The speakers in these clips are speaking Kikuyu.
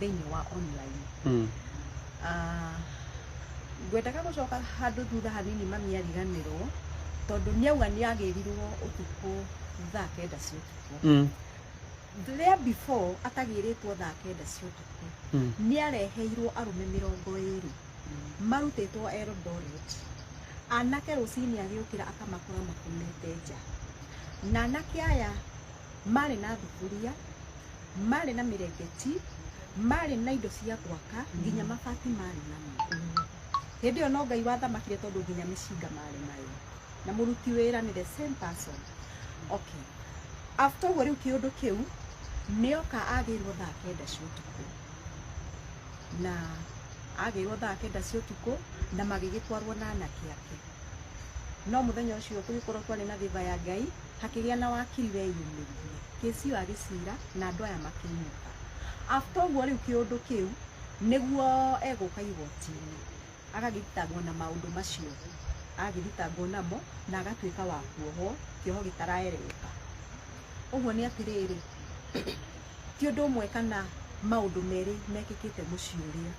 thĩinĩ wa online Mm. Ah, ngwendaga gũcoka handũ thutha hanini mami ariganĩrwo tondũ nĩauga nĩagĩrirwo ũtukũ thaa kenda cia ũtukũ Mm. rĩa before atagĩrĩtwo thaa kenda cia ũtukũ Mm. nĩareheirwo arũme mĩrongo ĩrĩ marutĩtwo eldoret anake rũcinĩ agĩũkĩra akamakora makomete nja na anake aya Maarĩ na thuburia, maarĩ na mĩrengeti, maarĩ na indo cia gwaka, nginya mabati maarĩ namo. Hĩndĩ ĩyo no Ngai wathamakire tondũ nginya mĩcinga maarĩ nayo. Na mũruti wĩra nĩ the same person. Okay. After ũguo rĩu kĩũndũ kĩu, nĩ oka agĩirwo thaa kenda cia ũtukũ. Na agĩirwo thaa kenda cia ũtukũ, na magĩgĩtwarwo na anake ake. No mũthenya ũcio tũgĩkorwo twarĩ na favor ya Ngai, hakĩgĩa na wakiri weyumĩririe kĩsi ĩyo agĩcira na andũ aya makĩinũka after ũguo rĩu kĩũndũ kĩu nĩguo egũka igoti-inĩ agagĩthitangwo na maũndũ macio agagĩthitangwo namo na agatuĩka wa kuohwo kĩoho gĩtaraereweka ũguo nĩ atĩrĩrĩ ti ũndũ ũmwe kana maũndũ merĩ mekĩkĩte mũciĩ ũrĩa,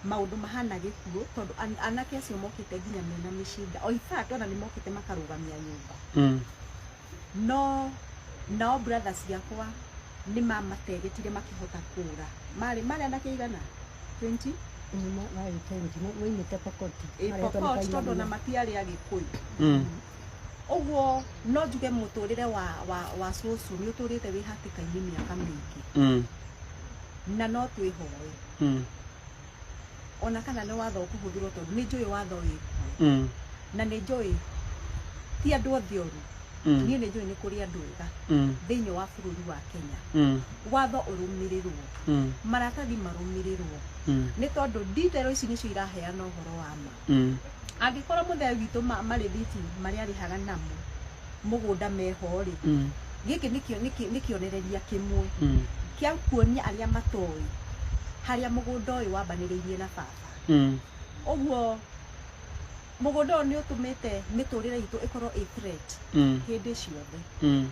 maũndũ mahana gĩkuũ tondũ anake acio mokĩte nginya mena mĩcinga, o infact ona nĩ mokĩte makarũgamia nyũmba mm. no nao brother ciakwa nĩ mamategetire makĩhota kũra marĩ marĩ anake igana 20 maimĩte pokoti pokoti tondũ ona matiarĩ agĩkũyũ mm. ũguo no njuge mũtũrĩre wa, wa, wa cũcũ nĩ ũtũrĩte wĩ hatĩka-inĩ mĩaka mĩingĩ Mm. na no twĩhoe Mm. ona kana nĩ watho ũkũhũthĩrwo tondũ nĩ njũĩ watho wĩ kuo Mm. na nĩ njũĩ ti andũ othe oru Mm. niĩ nĩ njũĩ nĩ kũrĩ andũ ega Mm. thĩinĩ wa bũrũri wa kenya Mm. watho ũrũmĩrĩrwo Mm. maratathi marũmĩrĩrwo Mm. nĩ tondũ nditero ici nĩcio iraheana ũhoro wa ma Mm. angĩkorwo mũthee witũ ma- marĩthiti marĩa arĩhaga namo mũgũnda meho-rĩ Mm. gĩkĩ nĩ kĩo- nĩ kĩ- nĩ kĩonereria kĩmwe Mm. kĩa kuonia arĩa matoĩ harĩa mũgũnda ũyũ wambanĩrĩirie na baba Mm. ũguo mũgũnda ũyũ nĩ ũtũmĩte mĩtũrĩre itũ ĩkorwo ĩ threat Mm. hĩndĩ ciothe Mm.